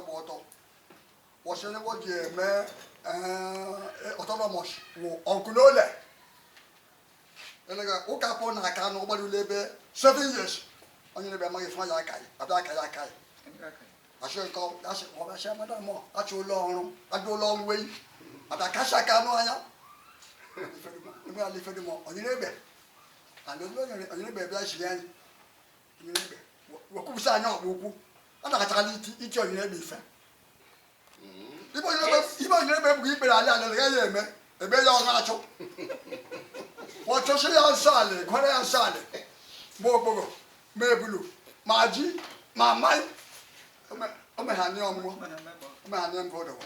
gba ọtọ wọchị onye ji eme autonomous wụ ọgụ n'ole elega ụka pụ na aka na ụgbara ule ebe seven years onye na-ebe amaghị fụma ya aka ya abịa aka ya aka ya achị nke achị ọbịachị amada mọ achị ụlọ ọrụ adị ụlọ ọrụ wei abịa kacha aka anụ anya ime ala ife dum ọ onye na-ebe and onye na-ebe bịa chiri anyị wekwubusa anya ọkpụ ukwu ọ na-akachakala ichi onyere egbe ife ibe onyere egbe ebughị ikpere ala ala gaghị ya eme ebe ya ọ na-achụ ọchụsị ya nsọ ala gwara ya nsọ ala ma okpogho ma ebulu ma ji ma mmanya o meghani ọmụmụ o meghani mbụ ụdọwa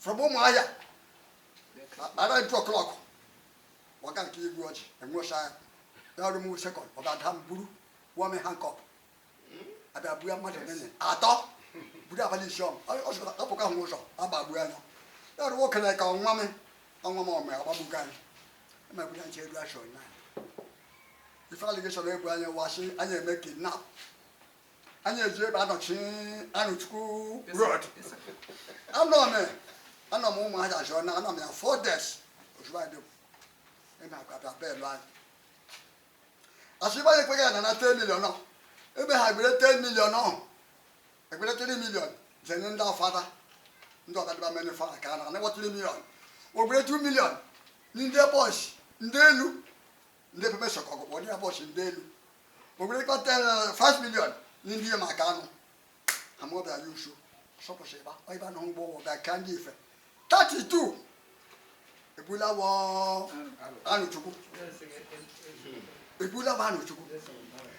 from ụmụahịa around two o'clock waga nke igwe ọjị enwecha ya ọrụ m sekọnd ọ ga-ada m buru wọm handcuff abịa buya mmadụ nene atọ buru abalị isi ọm ọpụka hụ ụzọ agbagbu anya ya ọrụ nwoke na ka ọnwa m ọnwa m ọmụ agbagbugo anyị emegbuya nche elu achọ na ife allegation ebo anyị wa sị anyị eme kidnap anyị eji ebe anọchi arọchukwu road anọ m anọ m ụmụahịa zone 9 anọ m ya four days ozugbo anyị dịbụ ị na-agwa bịa bail anyị asị ịgba ya ekweghị ya na na 10 million ọ ebe ha gbere 10 million ọ egbere 3 million jenye ndị ọfada ndị ọgadịba mere fara ka a na anagwa 3 million ogbere 2 million ndị boys ndị elu ndị pepe sọkọ ọgụkpọ ndị boys ndị elu ogberekwa 5 million ndị ihe maka anụ amụọbịa ya usu sọpụsị ịba ịba na ụgbọ ụgbọ ga-aka ndị ife 32 ebula wọ arọchukwu ebula wọ arọchukwu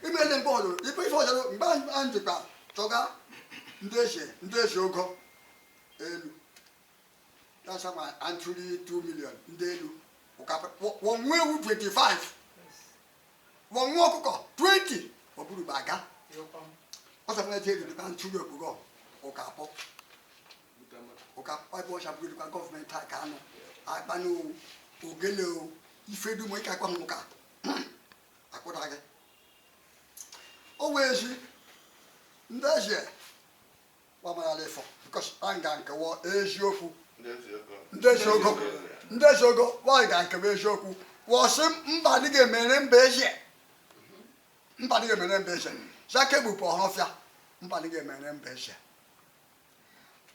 imele mgbe ọzọ ife ife ọzọ mgbe anyị jikwa chọga ndị eze ndị eze ogo elu That's why I'm truly 2 million ndị elu wọnwa ewu 25 wọnwa ọkụkọ 20 ọ bụrụ bụ aga ọ sọ na eji eri dịkwa ntụli okpogho ụka akpọ ụka akpọ ebe ọcha bụrụ dịkwa gọọmenti aka anụ akpa na ogele o ife dum ịka akpa ụka akpụda gị o wee ji ndị eze gbamarala ịfọ because a nga nkewa eziokwu ndị ezi ogo ndị ezi ogo nwaanyị ga nkewa eziokwu wọ sị mba dị ga-emere mba ezie mba dị ga-emere mba ezie zaka egbupụ ọhafịa mba dị ga-emere mba ezie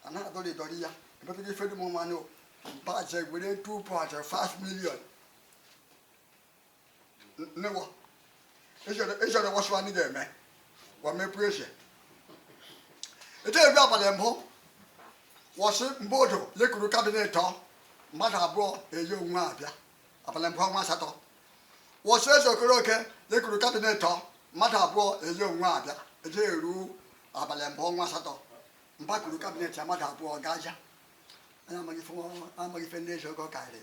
a na-adọrọ ịdọrọ ya ebepụta ife dum mmanụ mba je were 2.5 million nnewo ịchọrọ ịwasụ anyị ga-eme gwa mepụ eze eje eru abalị mbụ wọ sị mgbe odo lekuru kabinet ọ mmadụ abụọ eyi onwe abịa abalị mbụ ọnwa asatọ wọ sị eze okoroke lekuru kabinet ọ mmadụ abụọ eyi onwe abịa eje eru abalị mbụ ọnwa asatọ mba kuru kabinet ya mmadụ abụọ gaja anya amaghị ife ndị eze oge ọ karịrị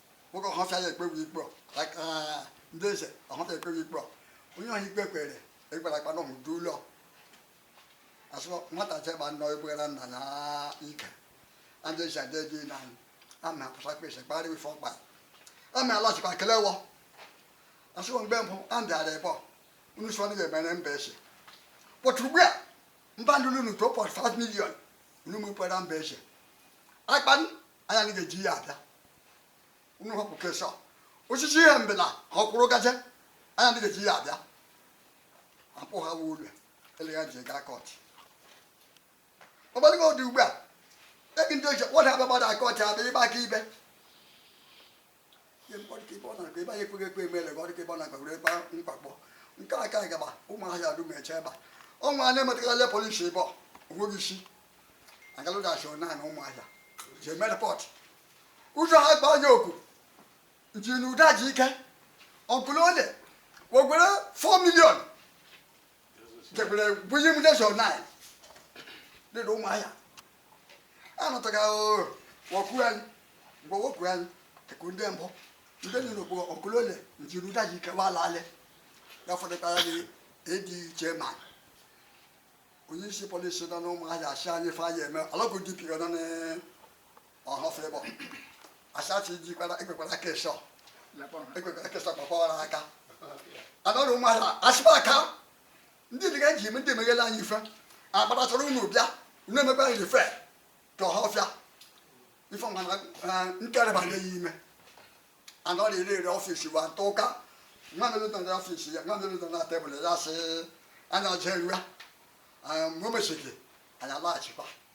nwoke ọhafịa ya ekpewe ikpe ndị eze ọhafịa ekpewe ikpe onye ọha ikpe kwere egbara akpa n'ọhụ du ụlọ asụ nwata jegba nnọọ egbugara nna ya ike ndị eze adị gị na ama apụsa kpesa kpara ife ọkpa ama alachikwa kelewọ asụ mgbe mbụ a ndịara ịbọ unu sọ ndị ga-emere mba ese kpọtụ ugbu a mba ndị unu to 5 million unu mepere mba ese akpa anya anyị ga-eji ihe abịa unu hapụ kesha osisi ihe mbela ka ọ kwụrụ gaje anya ndị ga-eji ihe abịa akpụ ha wuo ụlọ ele ya ji gaa kọt ọgbadịgo dị ugbu a ebi ndị ichie wọda abịa gbada kọt abịa ịgba akaebe ebe anyị ekweghị ekwe emele gị ọdịka ebe ọ na-agba were gba mkpakpọ nke a ka anyị gaba ụmụahịa adu meche ebe a ọnwa a na-emetagala polisi ebe onweghị isi agalụdachi na na ụmụahịa je mee repọt ụjọ ha gba anya oku ji na ụda ji ike ọgụlụ ole wegwere 4 million jebere bunye m jesu na dị na ụmụahịa anọtaga ọkụ anyị mgbe wepụ anyị eku ndị mbụ ndị nọ n'okpuru ọkụlole njiru daji ike wala ale ya fọdụtara gị ịdị iche ma onye isi polisi nọ n'ụmụahịa asị anyị fa ya eme alọgụ DPO nọ ọhọfụ ịbọ asachi jikwara ekwekwara aka ịsọ ekwekwara aka ịsọ kpọkpọrọ aka anọrọ ụmụala asịba aka ndị dịga ji eme ndị emeghela anyị ife agbara chọrọ unu bịa unu emekwa anyị ife ka ọhafịa ife mana nkereba ya ime anọrọ ire ire ọfịs wa ntọ ụka nwa mere nọ n'ọfịs ya nwa mere nọ na tebụl ya sị anya ọjọọ eruwa mgbe o mechiri anyị alaghachikwa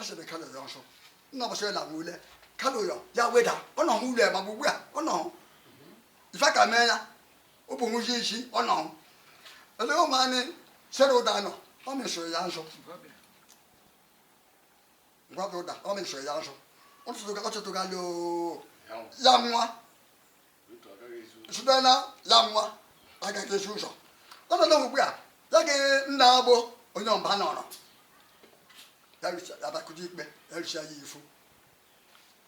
ọ sịrị kalu ya ọsọ nna ọbọsọ ya lagbu ule kalu ya ya weda ọ nọ hụ ule ma bụ ugbu a ọ nọ ife ka mee ya ọ bụ nwụzi isi ọ nọ ele ụmụ anyị sere ụda nọ ọ mesoro ya nso ngwa bụ ụda ọ mesoro ya nso ọ tụtụga ọ tụtụga loo ya nwa sudana ya nwa agaghị ezi ụzọ ọnọdụ ugbu a ya gị nna agbọ onye ọba nọrọ abakụji ikpe erisia ya ifu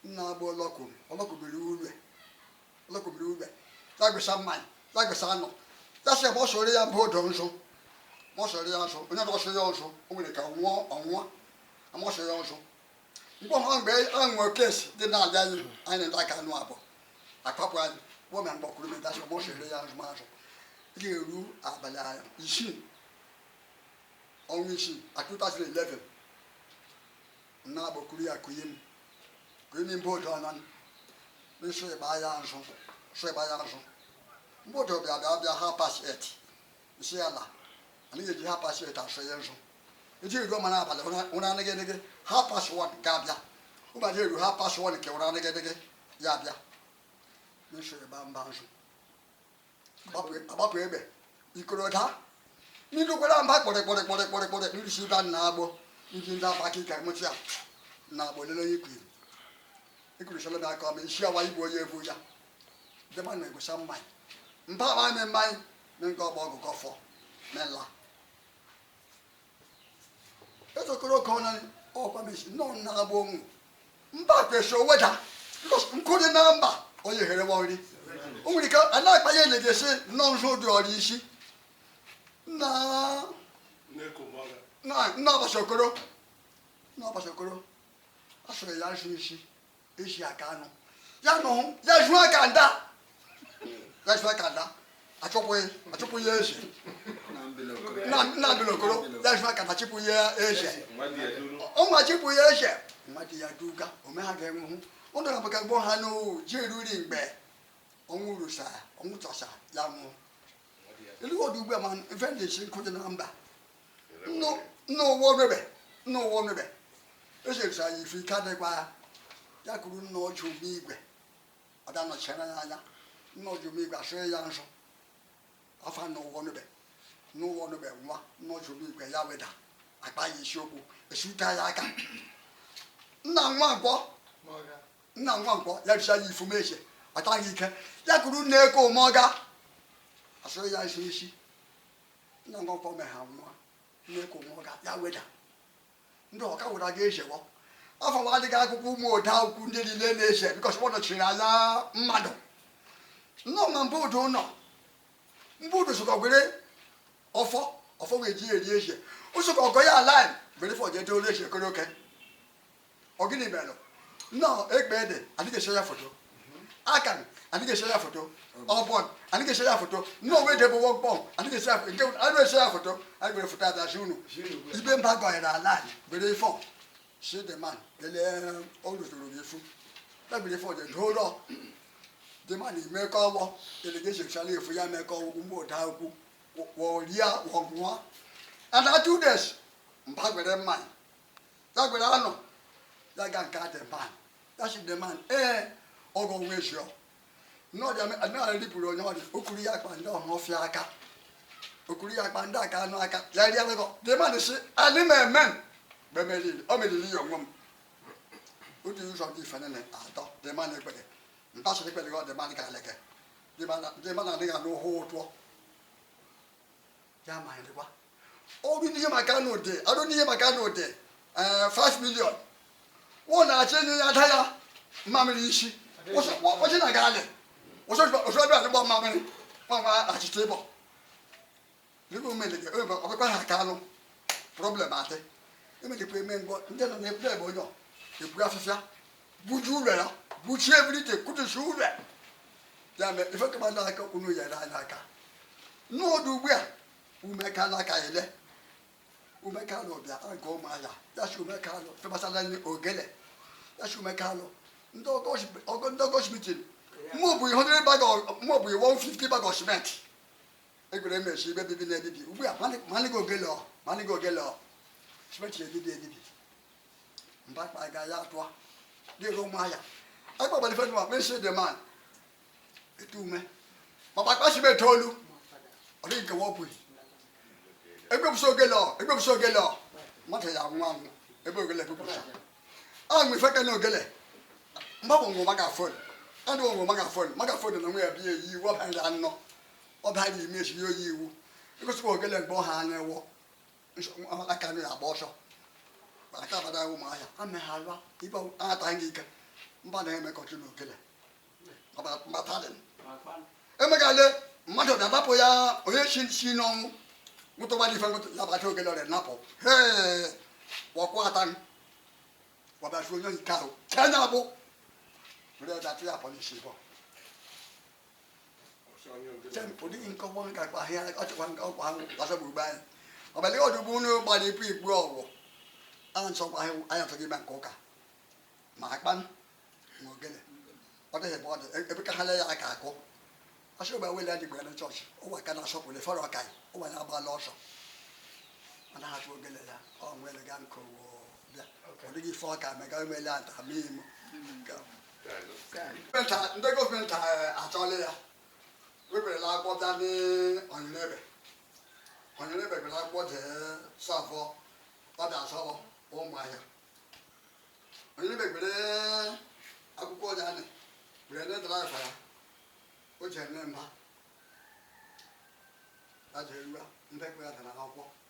nna agbọ ọlọkwuru ọlọkwubiri ure ọlọkwubiri ure ya gwesa mmanya ya gwesa anụ ya sị ma a sọọrọ ya obodo nsọ ma a sọọrọ ya nsọ onye na asọ ya nsọ o nwere ka ọ nwụọ ọnwụọ a ma asọ ya nsọ mkpọha mgbe anwụ kesi dị na-aja anyị anyị ndị aka anụ abụọ akpapụ anyị kpọọ na mgbakwuru medasị ọgbọ sere ya azụmazụ ga-eru abalị isii ọnwa isii at 2011 na agbakuru ya kụnye m kụnye m boodu ọnọ n'isi ịgba ya azụ sọ ịgba ya azụ mgbe otu ọbịa bịa bịa half past eight m sị ya na anaghị eji half past eight asọ ya nsọ ejiri ruo mana abalị ụra anaghị eneghe half past one ga-abịa ụbọchị eru half past one nke ụra anaghị eneghe ya abịa nsọ ịba mba nsọ agbapụ egbe ikoro daa n'ilu kwere mba kpọrị kpọrị kpọrị kpọrị kpọrị n'ilu si ba na agbọ ndị ndị agba aka ike mụtụ ya na agbọ lele onye kwuru ekwuru sọlọ na aka ọma isi awa igbo onye ebu ya dema na egosa mmanya mba awa eme mmanya ne nke ọgbọ ọgụ kọfọ mela ezokoro ka ọ na ọkwa mesi nọ na agba onwu mba kwesị o weda bikos nkụ dị na mba onye here wa nri o nwere ike a na-akpa ya ele ga-esi nnọọ nsọ dị ọrụ isi na na nna ọbasa okoro nna ọbasa okoro asọrọ ya nsọ isi eji aka anụ ya nụ ya jụọ aka nda ya jụọ aka nda achịpụ ya eze nna bilokoro ya jụọ aka nda chịpụ ya eze ọnwa chịpụ ya eze mmadụ ya duga ome ha ga-enwehụ ụnụ na maka gboo ha n'owu ji eruri mgbe ọnwụ rusa ọnwụ tọsa ya nwụọ elu ọdụ ugbu a ma ife ndị isi nkụ dị na mba nna ụwa omebe nna ụwa omebe echetara ya ifu ike adịkwa ya ya kwuru nna ọjụ omigwe ọ bịa nọchara ya anya nna ọjụ omigwe asọrọ ya nsọ ọfọ nna ụwa omebe nna ụwa omebe nwa nna ọjụ omigwe ya weda akpa ya isi obu esuta ya aka nna nwa nkwọ nna nwa nkwọ ya bịa ya ifu meche ọtaghị ike ya kwuru nna eke ụmụọga asọrọ ya nsọ isi nna ngọkọ me ha nwa nna eke ụmụọga ya weda ndị ọka weda ga ejewo ọfọ nwa adịghị akụkọ ụmụ oda ukwu ndị niile na-eje because ọ nọchiri ala mmadụ nnọọ ma mba udo nọ mba udo ụsokọ were ọfọ ọfọ wee ji eri eje ụsokọ ọgọ ya ala were ọfọ jeje olu eje koro oke ọ gịnị mere nnọọ ekpe ede adịghị ese ya foto akan adịghị ese ya foto ọbọn adịghị ese ya foto nnọọ wee debe wọk bọm adịghị ese ya foto nke adịghị ese ya foto anyị were foto adazi unu ibe mba gọnyere ala anyị were ife ọ si the man lelee o rutoro gị efu ebiri ife ọjọ doo ụlọ the man imekọ ọgbọ delegation sara efu ya mekọ ọgwụgwụ mgbe ụda akwụkwụ wọria wọgwụwa and that two days mba gwere mmanya ya gwere anọ ya ga nke the man a si the man ee ọgọ nwa ezio n'ọdị adịnala ripụrụ onye ọdị okuru ya akpa ndị ọma ọfịa aka okuru ya akpa ndị aka anụ aka ya rie alụgọ the man si alị m eme mgbe meriri o meriri ya onwe m otu ụzọ dị ife nene atọ the man ekpere ntasịrị ekpere gị the man ka aleke the man adịghị anụ ụhụ ụtụọ ya ma nrịwa ọrụ n'ihe maka na ụdị arụ n'ihe maka na ụdị 5 million wụ na-achọ enye ya ada ya mmamịrị isi kwụsị na gaalị kwụsị ọbịa alịgba mmamịrị nwa achịcha ịbọ n'ebe omenede ọkpụkpa ha ka anụ problem adị emedekwa eme ngọ ndị nọ na-ekwu ebe onye ọ ekwu afịfịa buji ụlọ ya buchie ebilite kutusi ụlọ ya ya mere ife kama na aka unu nyere anyị aka n'ọdụ ugbu a umeka n'aka ele umeka alụ bịa aga ụmụahịa ya si umeka alụ femasala ndị ogele ya si umeka alụ ndị ọgọchi meeting mụ bụ ihe ọdịrị baga mụ bụ ihe 150 bag of cement egwere mesi ibe bibi na-ebibi ugbu a manịgo ogele ọ manịgo ogele ọ cement ebibi ebibi mbakpa ga ya tụa dịrị ụmụ ya akpọgbara ife nwa mesi the man etu ume maka akpasibe etoolu ọ dịghị nke wọpụghị egbepụsị ogele ọ egbepụsị ogele ọ mmadụ ya anwụ anwụ ebe ogele egbepụsị ahụ ife ka na ogele mgbanwe ngwụ maka phone adụ ngwụ maka phone maka phone na nwa ya bịa eyi iwu ọbara anọ ọbara ime esi ya oyi iwu egosikwa ogele mgbe ọha anya wọ aka nri agba ọsọ mana ka abada ụmụ ahịa a na ha alụa ibe anataghị gị ike mba na-emekọchi na okele mbatadin emegale mmadụ bịa napụ ya onye si si n'ọnwụ nwụtụgbadị ife nwụtụ ya bata okele ọrịa napụ hee wọkwụ ata wabịasu onye nke ahụ kenya bụ rịa dati ya police bọ ụdị nkọwa nka kpa ahịa ọchịkwa nke ọkwa ahụ gbasa gburugburu anyị ọbali ọdụgbu unu gbara ipu igbu ọgwụ a nsọkwa ahụ anyị atọghị ime nke ụka ma akpa ma ogene ọ dịghị ebe ọ dị ebe ka ha lee ya aka akụ asị ụba wele adịgbo ya na chọọchị ụwa ka na-asọpụrụ efere ọka anyị ụwa na-agbala ọsọ ọ na-ahapụ ogene ya ọ nwere ga nke ụwa bịa ọ dịghị ife ọka mega emele ata ma imo ndị gọọmenti achọla ya weberela akwụkwọ bịa n'onyerebe onyerebe bere akwụkwọ jee serve wọ ọ bịa serve wọ Ụmụahịa onyerebe bere akwụkwọ ọja anị bere ndị dara afa ya o ji eme mba ya ji erua ndị kwere ya dara n'akwụkwọ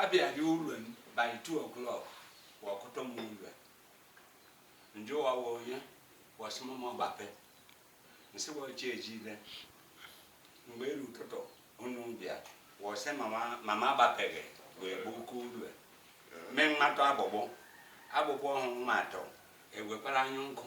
abịaghị ụlọ m by 2 o'clock wọ akụtụ m ụlọ m jụọ wọ onye wọ sị m gbape m sị wọ chi ejile mgbe eru ụtụtụ unu bịa wọ sị m ma m agbapeghị wee bụ oke ụlọ mee m atụ agbụgbọ agbụgbọ ahụ m atụ ewekwara anya nkụ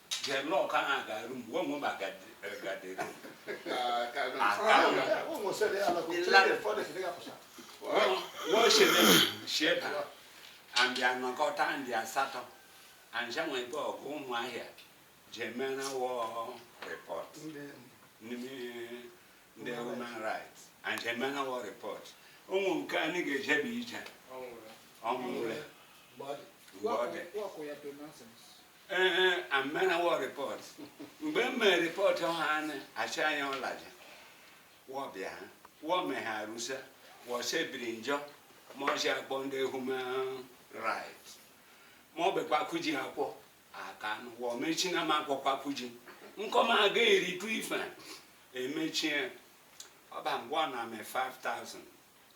Jelọk ahụ ga-arụ mgbe onwe m agadịrị sheba andị anọkọta andị asatọ anjanwebe ọgụ Ụmụahịa je mera wọ report n'ime ndị human rights anje mera wọ report ụmụ nke anyị ga-ejebe ije ọnwụre mgbe ọ dị Ee, a mera wọ report. Mgbe m mere report ọha anyị achị anyị ọlaja wọ bịa ha wọ meghe arụsa wọ sebiri njọ ma ọsị akpọ ndị human rights ma ọ bụkwa kuji akwọ aka anụ wọ mechi na m akwọkwa kuji nkọma aga eritu ife emechie ọba ngwa na me 5000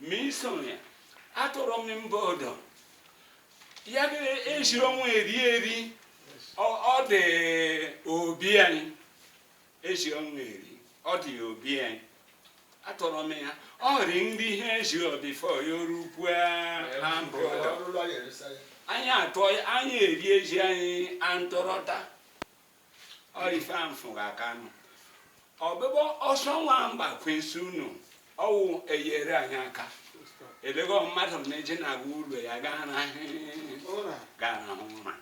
misonya atọrọ m mba ọdọ ya ejiri ọnwa eri eri ọ dị obi anyị eji ọnwa eri ọ dị obi anyị atọrọ m ya ọ rị nri ihe eji ọ before ya oru ukwu ha mba ọdọ anyị atọ anyị eri eji anyị antọrọta ọife amfụga aka nụ ọbịbọ ọsọ nwa mgba ka m sị unu ọwụ eyere anyị aka elego mmadụ na-eje na-aga ụlọ ya gaa ra gaa ra ụra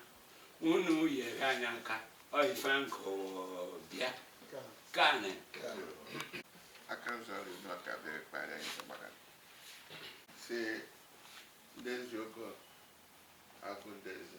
unu yere anyị aka ọife nkụ bịa kanị aka nzọ ọrụ unu ọka bịara kpara anyị sọgbara si ndị ezi ogo agụ ndị eze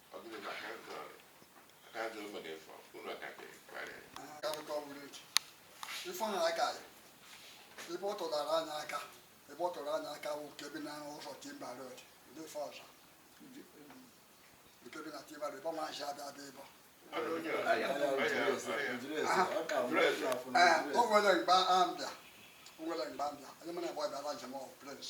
ifeanyị aka ya ebe ọ tụdara anya aka ebe ọ tụrụ anya aka bụ nke bi na ụzọ Timber Road ndị ife ọzọ nke bi na Timber Road ebe ọ maazị abịa abịa ịbọ o nwere mgbe a mbịa o nwere mgbe a mbịa onye mụ na-agba bịara njem ọhụ Prince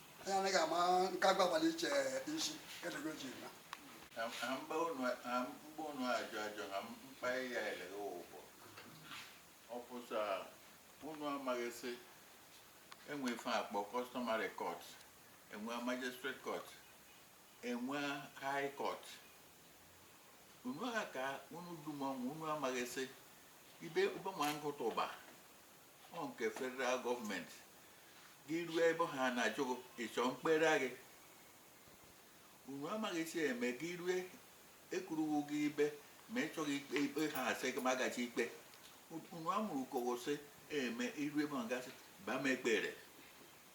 anyị anaghị ama nke agbagbala iche isi kedụgo ji na Ha ha mba unu ha mgba unu ajụ ajụ ha mkpa ya eleghị ụgbọ ọ pụta unu amaghị sị e nwe ife a kpọ customary court e nwe magistrate court e nwe high court unu ha ka unu dum ọnwụ unu amaghị sị ibe ụbọma nkụta ụba ọ nke federal government gị ruo ebe ha na-ajụ ị chọ m kpere gị unu amaghị sị eme gị rue ekwuruwu gị ibe ma ị chọghị ikpe ikpe ha asị gị ma gachi ikpe unu amụrụ ka ọ ga-esi eme i ru ebe ọ gasị ba m ekpere